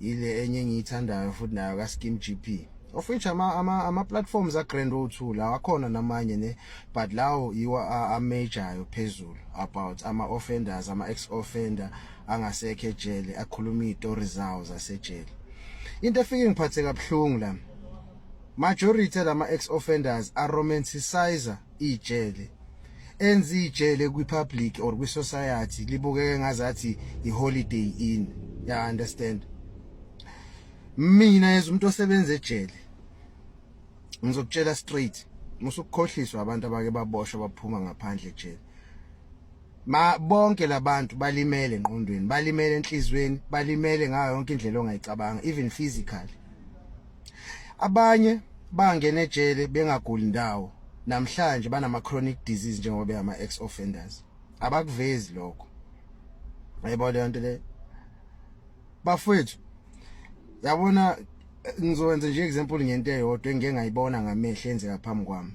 ile enye engiyithandayo futhi nayo ka Skim GP of which ama ama, ama platforms a Grand O2 la akhona namanye ne but lawo yiwa a major phezulu about ama offenders ama ex offender angasekho ejele akhuluma izitori zawo zasejele into efike ngiphathe kabuhlungu la majority lama ex offenders are romanticizer ijele enza ijele kwi public or kwi society libukeke ngazathi i holiday in ya understand mina as umuntu osebenza ejele ngizokutshela straight musukukhohliswa abantu abake baboshwa baphuma ngaphandle ejele ma bonke labantu balimele enqondweni balimele enhlizweni balimele ngayo yonke indlela ongayicabanga even physically abanye bangena ejele bengaguli ndawo namhlanje banama chronic disease njengoba beyama ex offenders abakuvezi lokho ayibona leyo nto le bafethu yabona ngizowenza nje example ngento eyodwa engike ngayibona ngamehlo enzeka phambi kwami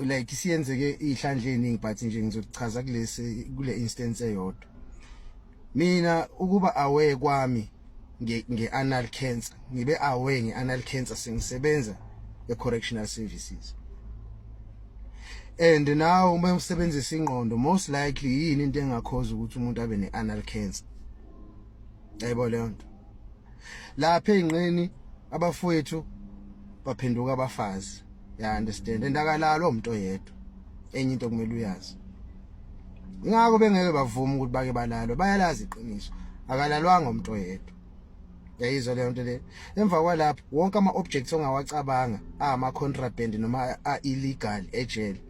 like isiyenzeke ihlandle eningi but nje ngizochaza kulesi kule instance eyodwa mina ukuba aware kwami nge, nge anal cancer ngibe aware nge anal cancer sengisebenza e correctional services and now uma usebenzisa ingqondo most likely yini into engakhoza ukuthi umuntu abe ne anal cancer yebo leyo nto lapha ezinqeni abafowethu baphenduka abafazi ya understand endakalalo umuntu oyedwa enye into kumele uyazi ingakho bengeke bavuma ukuthi bake balalwe bayalazi iqiniso akalalwanga umuntu oyedwa yayizwa leyo nto le emva kwalapho wonke ama-objects ongawacabanga ama-contraband noma a-illegal ejele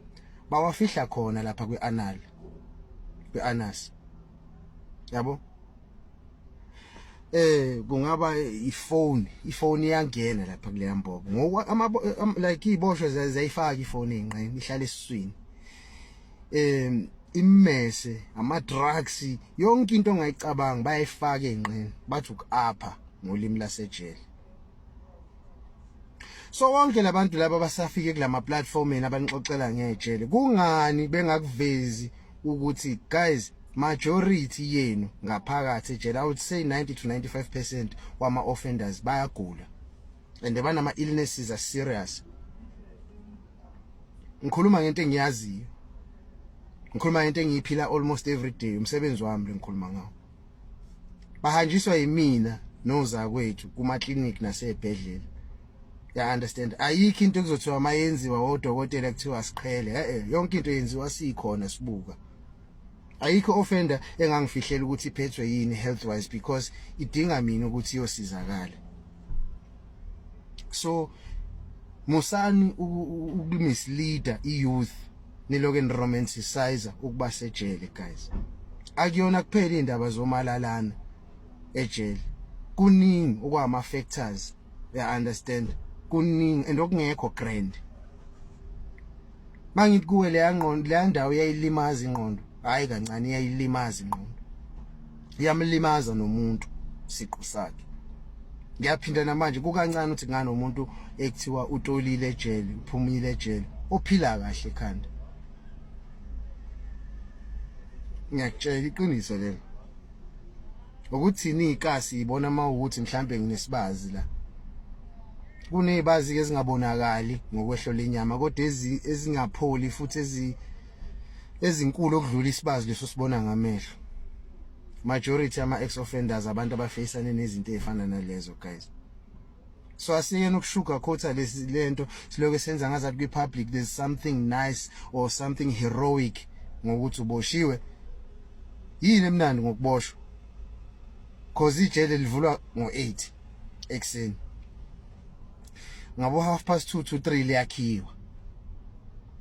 bawafihla khona lapha kwi-anal kwi-anas yabo eh kungaba ifone ifone iyangena lapha kuleya mbobo ngoku like iboshwe zayifaka ifone enqeni ihlala esiswini um immese ama-drugs yonke into ongayicabanga bayayifaka ey'nqeni bathi uku-apha ngolimi lasejele so wonke labantu laba basafike kulama platformini abanixoxela ngejele kungani bengakuvezi ukuthi guys majority yenu ngaphakathi ejele i would say 90 to 95% wama offenders bayagula and banama illnesses are serious ngikhuluma ngento engiyaziyo ngikhuluma ngento engiyiphila almost every day umsebenzi wami lengikhuluma ngawo bahanjiswa yimina nozakwethu kuma clinic nasebhedlela ya understand ayikho into ekuzothiwa mayenziwa odokotela kuthiwa siqhele eh yonke into yenziwa sikhona sibuka ayikho offender engangifihlela ukuthi iphethwe yini health wise because idinga mina ukuthi iyosizakala so musani ukumisleader iyouth niloke niromanticize ukuba sejele guys akuyona kuphela indaba zomalalana ejele kuningi okwama factors uya understand kuningi and okungekho grand mangithi kuwe leya ngqondo leya ndawo iyayilimaza ingqondo hayi kancane iyayilimaza ingqondo iyamlimaza nomuntu siqu sakhe ngiyaphinda namanje kukancane ukuthi ngani umuntu ekuthiwa utolile ejele uphumile ejele ophila kahle ekhanda ngiyakutshela iqiniso lelo ukuthini ikasi ibona uma ukuthi mhlambe nginesibazi la kunezibazi ke ezingabonakali ngokwehlo lenyama kodwa ezingapholi futhi ezi ezinkulu okudlula isibazi leso sibona ngamehlo majority ama ex offenders abantu abafacane nezinto ezifana nalezo guys so asiyena ukushuga khotha lesi lento siloke senza ngazathi kwi public there's something nice or something heroic ngokuthi uboshiwe yini emnandi ngokuboshwa cause ijele livulwa ngo8 ekseni ngabo half past 2 to 3 liyakhiwa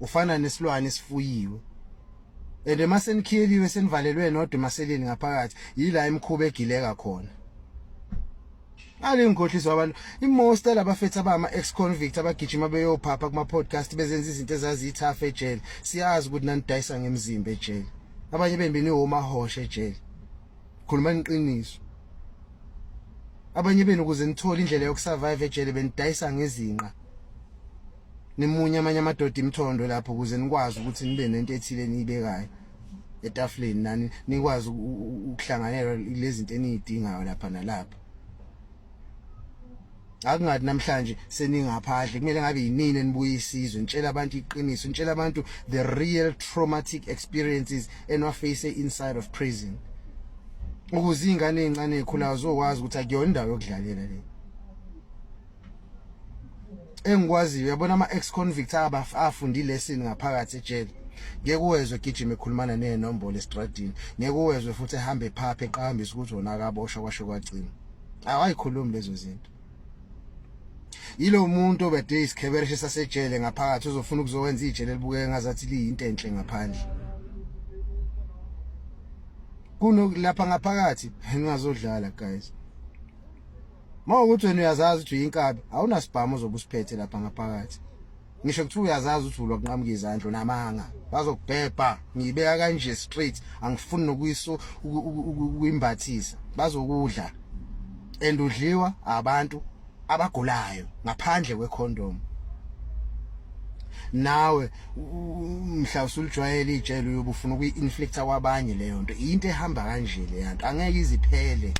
ufana nesilwane esifuyiwe and uma senikhiyeliwe senivalelwe nodwa emaseleni ngaphakathi yila imkhuba egileka khona Ake ngikhohliswa abantu imost labafethu abama ex convict abagijima beyophapha kuma podcast bezenza izinto ezaziyithafa ejele siyazi ukuthi nanidayisa ngemzimba ejele abanye bembini womahosha ejele khuluma iqiniso abanye benu kuze nithole indlela yokusurvive ejele benidayisa ngezinqa nimunye amanye amadoda imthondo lapho kuze nikwazi ukuthi nibe nento ethile niyibekayo etafuleni nani nikwazi ukuhlanganyela lezinto eniyidingayo lapha nalapha akungathi namhlanje seningaphandle kumele ngabe yinini enibuye isizwe nitshela abantu iqiniso nitshela abantu the real traumatic experiences enwaface inside of prison ukuze ingane ezincane ekhulayo zokwazi ukuthi akuyona indawo yokudlalela le engikwaziyo uyabona ama ex convicts abafundi lesson ngaphakathi ejele ngeke uwezwe gijima ekhulumana nezinombolo estradini ngeke uwezwe futhi ehambe phaphe eqhambisa ukuthi wona akaboshwa kwasho kwagcina awayikhulumi lezo zinto yilo muntu obede isikhebereshe sasejele ngaphakathi uzofuna ukuzowenza ijele libukeke ngazathi liyinto enhle ngaphandle kunokulapha ngaphakathi ningazodlala guys Uma ukuthi wena uyazazi ukuthi uyinkabi awunasibhamu ozobusiphethe lapha ngaphakathi ngisho kuthiwa uyazazi ukuthi ulwa kunqamuka izandla namanga bazokubhebha ngiyibeka kanje straight angifuni nokuyiso ukuyimbathisa bazokudla and udliwa abantu abagulayo ngaphandle kwecondom nawe mhla usulijwayele ijele uyobufuna ukuyi-inflicta kwabanye leyo nto into ehamba kanje leyanto angeke iziphele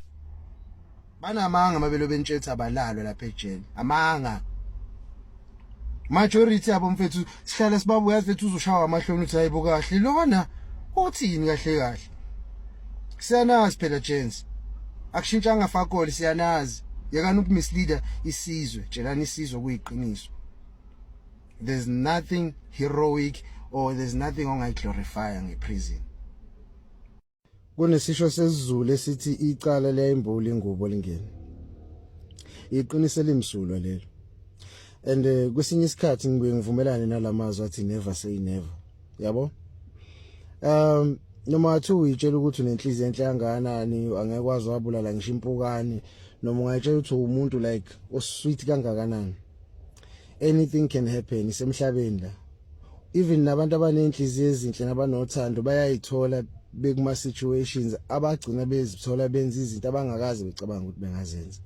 banamanga mabelo bentshetha abalalo lapha ejele amanga majority yabo mfethu sihlala sibabu yazi mfethu uzoshawa amahloni uthi hayibo kahle lona uthini kahle kahle siyanazi phela chance akushintshanga fakoli siyanazi yekani ukumisleader isizwe tshelani isizwe kuyiqiniso there's nothing heroic or there's nothing ongayiglorifya ngeprison Kunesisho sesiZulu esithi icala liyayimbuli ingubo lingene. Iqiniso elimsulwa lelo. And eh, kwesinye isikhathi ngibuye ngivumelane nalamazwi athi never say never. Yabo? Um noma athi uyitshela ukuthi unenhliziyo enhle kangakanani angeke wazi wabulala ngisho impukane noma ungayitshela ukuthi umuntu like osweet kangakanani anything can happen isemhlabeni la even nabantu abanenhliziyo ezinhle nabanothando bayayithola bekuma situations abagcina bezithola benza izinto abangakazi becabanga ukuthi bengazenza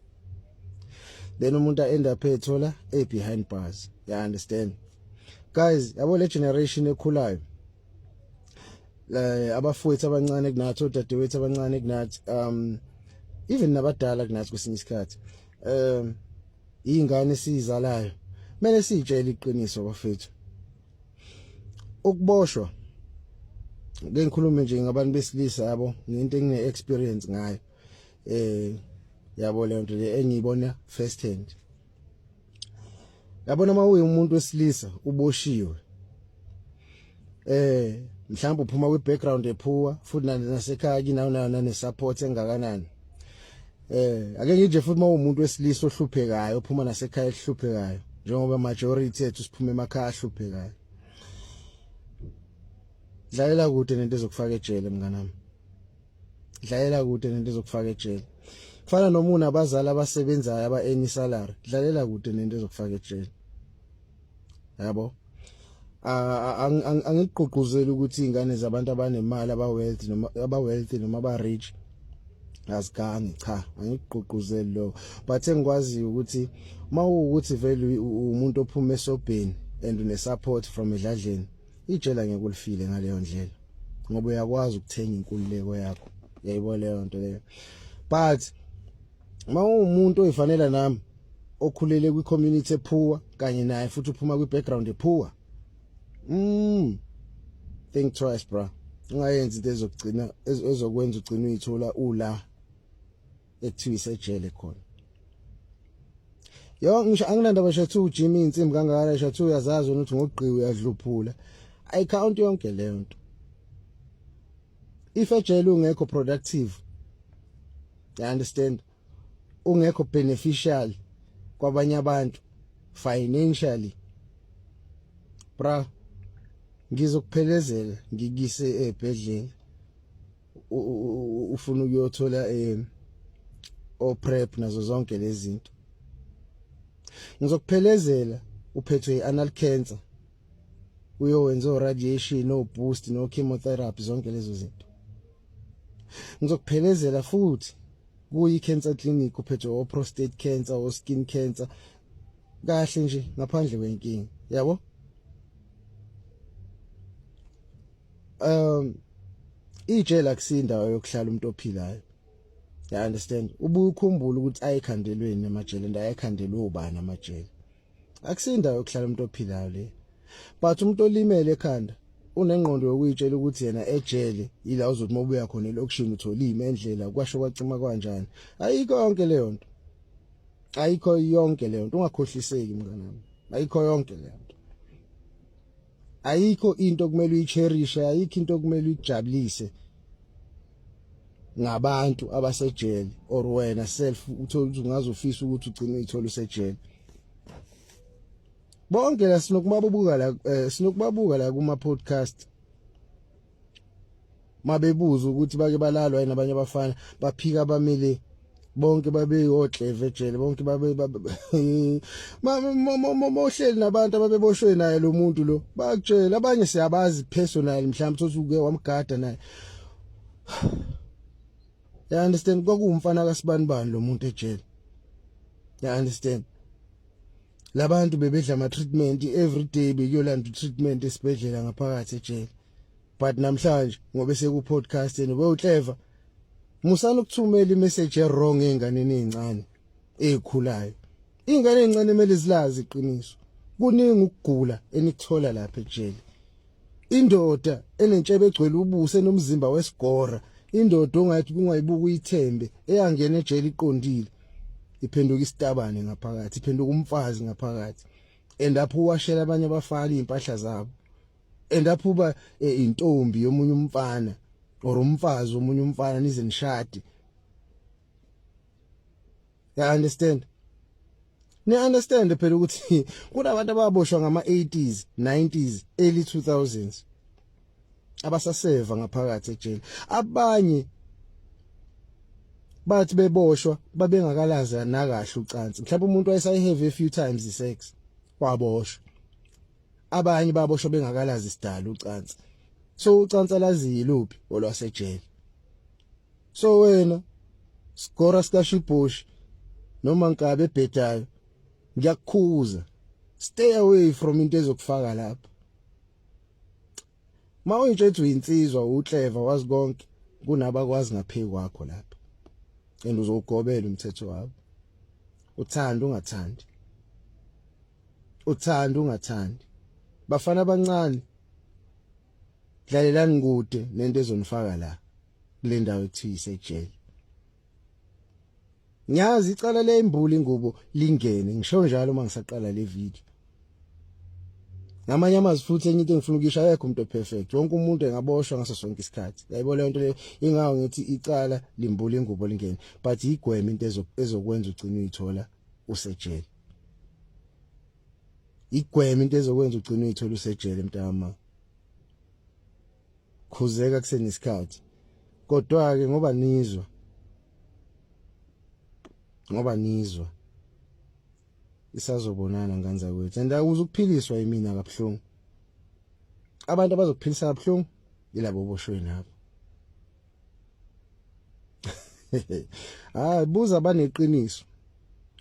then umuntu end up ethola e behind bars you understand guys yabo le generation ekhulayo eh abafowethu abancane kunathi odadewethu abancane kunathi um even nabadala kunathi kwesinye isikhathi um iy'ngane esiyizalayo kumele siyitshele iqiniso bafethu ukuboshwa ke ngikhulume nje ngabantu besilisa yabo ngento engine-experience ngayo eh yabo le nto le engiyibona first hand yabona uma uyi umuntu wesilisa uboshiwe eh mhlawumbe uphuma kwi background ephuwa futhi nasekhaya kinawo nayo nane support engakanani eh ake ngije futhi mawumuntu wesilisa ohluphekayo uphuma nasekhaya ehluphekayo njengoba majority ethu siphuma emakhaya ahluphekayo dlalela kude nento ezokufaka ejele mnganami dlalela kude nento ezokufaka ejele kufana nomuna abazali abasebenzayo aba-any salary dlalela kude nento ezokufaka ejele yabo angigqugquzeli ukuthi izingane zabantu abanemali aba wealthy noma aba wealthy noma aba rich azigangi cha angigqugquzeli lo but engikwazi ukuthi mawukuthi vele umuntu ophuma esobheni and une support from edladleni ijela ngeke ulifile ngaleyo ndlela ngoba uyakwazi ukuthenga inkululeko yakho yayibona leyo nto leyo but uma ungumuntu oyifanela nami okhulele kwi community ephuwa kanye naye futhi uphuma kwi background ephuwa mm think twice bra ungayenzi into ezokugcina ezokwenza ugcina uyithola ula ekuthiwa isejele khona yo ngisho anginandaba shathu ujimi insimbi kangaka shathu uyazazi wena ukuthi ngogqiwe uyadluphula ayicount yonke leyo nto if ejele ungekho productive you understand ungekho beneficial kwabanye abantu financially bra ngizokuphelezela ngikise ebhedlela ufuna ukuyothola eh o prep nazo zonke lezi zinto ngizokuphelezela uphethwe i-anal cancer uyowenza o-radiation o-boost no-chemotherapy zonke lezo zinto ngizokuphelezela futhi kuyi-cancer clinic uphethwe o-prostate cancer o-skin cancer kahle nje ngaphandle kwenkinga yabo um ijele akusindawo yokuhlala umuntu ophilayo you understand ubukhumbula ukuthi ayikhandelweni amajele and ayikhandelwe ubani amajele akusindawo yokuhlala umuntu ophilayo le but umuntu olimele ekhanda unengqondo yokuyitshela ukuthi yena ejele yila uzothi uma ubuya khona elokishini utholime endlela kwasho kwacima kwanjani ayikho yonke leyo nto ayikho yonke leyo nto ungakhohliseki mnganami ayikho yonke leyo ayikho into okumele uyicherishe ayikho into okumele uyijabulise ngabantu abasejele or wena self uthola ukuthi ungaze ufise ukuthi ugcine uyithola usejele bonke la sinokubabuka la eh, sinokubabuka la kuma podcast mabebuza ukuthi bake balalwa yini abanye abafana baphika abamile bonke babeyokleve ejele bonke babe mohleli nabantu ababeboshwe naye lo muntu lo bakutshela abanye siyabazi personal mhlawumbe sothi uke wamgada naye ya understand kwakuwumfana kasibani bani lo muntu ejele ya understand labantu bebedla ama treatment every day bekuyolanda treatment esibhedlela ngaphakathi ejele but namhlanje ngobe seku podcast and we uclever musana ukuthumela imessage e wrong enganeni ezincane ezikhulayo ingane ezincane kumele zilazi iqiniso kuningi ukugula enikuthola lapha ejele indoda enentshebe egcwele ubuso enomzimba wesigora indoda ongathi kungayibuka uyithembe eyangena ejele iqondile iphenduka isitabane ngaphakathi iphenduka umfazi ngaphakathi and apho uwashela abanye abafana impahla zabo and apho uba eh, intombi yomunye umfana or umfazi omunye umfana nize nishade ya understand ni understand phela ukuthi kunabantu ababoshwa ngama 80s 90s early 2000s abasaseva ngaphakathi ejele abanye bathi beboshwa babengakalazi nakahle ucansi mhlawumbe umuntu wayesayihave a few times isex waboshwa abanye baboshwa bengakalazi isidala ucansi so ucansi alaziyi luphi olwasejele so wena skora sikashibush noma nkabe ebhedayo ngiyakukhuza stay away from into ezokufaka lapha Ma uyintshethu yinsizwa uclever wazi konke kunabakwazi ngaphiki kwakho lapha. And uzogobela umthetho wabo. Uthanda ungathandi. Uthanda ungathandi. Bafana abancane. Dlalelani kude nento ezonifaka la kule ndawo ekuthiwa isejele. Ngiyazi icala le imbuli ingubo lingene ngisho njalo uma ngisaqala le video. Ngamanye amazwi futhi enye into engifuna ukuyisho akekho umuntu perfect. Wonke umuntu engaboshwa ngaso sonke isikhathi. Yayibona lento le ingawo ngithi icala limbuli ingubo lingene but igweme into ezokwenza ugcine uyithola usejele. Igweme into ezokwenza ugcine uyithola usejele mntama. khuzeka kusenesikhathi kodwa ke ngoba nizwa ngoba nizwa isazobonana ngane zakwethu and awuze ukuphiliswa yimina kabuhlungu abantu abazokuphilisa kabuhlungu ilabo boshwe nabo hayi buza baneqiniso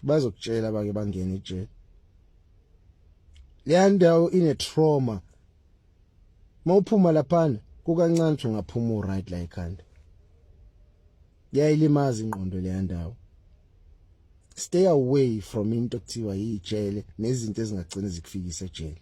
bazokutshela bake bangene ejele leya ndawo ine trauma mawuphuma laphana kukancane uthi ungaphuma uright la ekhanda yayilimaza ingqondo leya ndawo stay away from into okuthiwa yijele nezinto ezingagcina zikufikisa ejele